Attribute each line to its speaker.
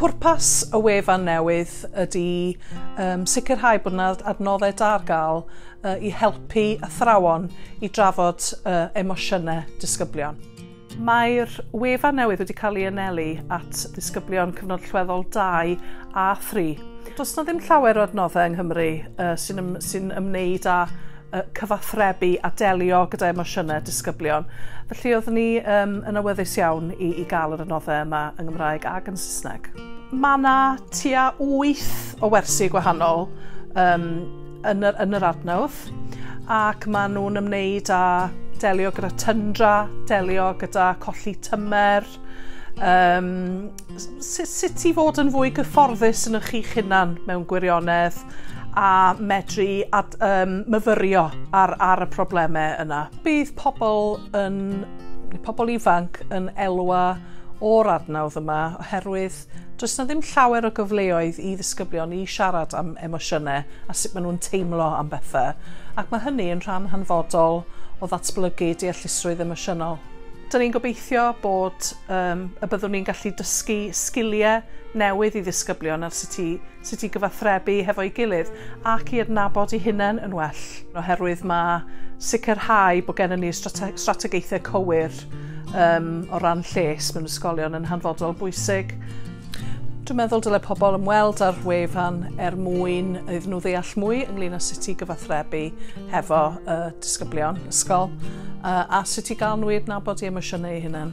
Speaker 1: Pwrpas y wefan newydd ydy sicrhau bod yna adnoddau da ar gael i helpu athrawon i drafod emosiynau disgyblion. Mae'r wefan newydd wedi cael ei anelu at ddisgyblion Cyfnod Allweddol dau a thri. Does yna ddim llawer o adnoddau yng Nghymru sy'n ymwneud â cyfathrebu a delio gyda emosiynau disgyblion. Felly oeddwn ni um, yn awyddus iawn i, i gael yr adnoddau yma yng Nghymraeg ac yn Saesneg. Mae yna tua 8 o wersi gwahanol um, yn, yr, yn yr adnodd ac maen nhw'n ymwneud â delio gyda tyndra, delio gyda colli tymer, um, sut i fod yn fwy gyfforddus yn ych chi'ch hunan mewn gwirionedd a medru ad, um, myfyrio ar, ar y problemau yna. Bydd pobl yn pobl ifanc yn elwa o'r adnawdd yma oherwydd does na ddim llawer o gyfleoedd i ddisgyblion i siarad am emosiynau a sut maen nhw'n teimlo am bethau ac mae hynny yn rhan hanfodol o ddatblygu deallusrwydd emosiynol. Dyn ni'n gobeithio bod Yym, y byddwn ni'n gallu dysgu sgiliau newydd i ddisgyblion ar sut i sut i gyfathrebu hefo'i gilydd ac i adnabod eu hunain yn well, oherwydd mae sicrhau bod gennym ni strate- strategaethau cywir yym o ran lles mewn ysgolion yn hanfodol bwysig. Dwi'n meddwl dyle pobl ymweld â'r wefan er mwyn iddyn nhw ddeall mwy ynglyn â sut i gyfathrebu hefo y disgyblion ysgol a sut i gael nhw i adnabod i emosiynau eu hunain.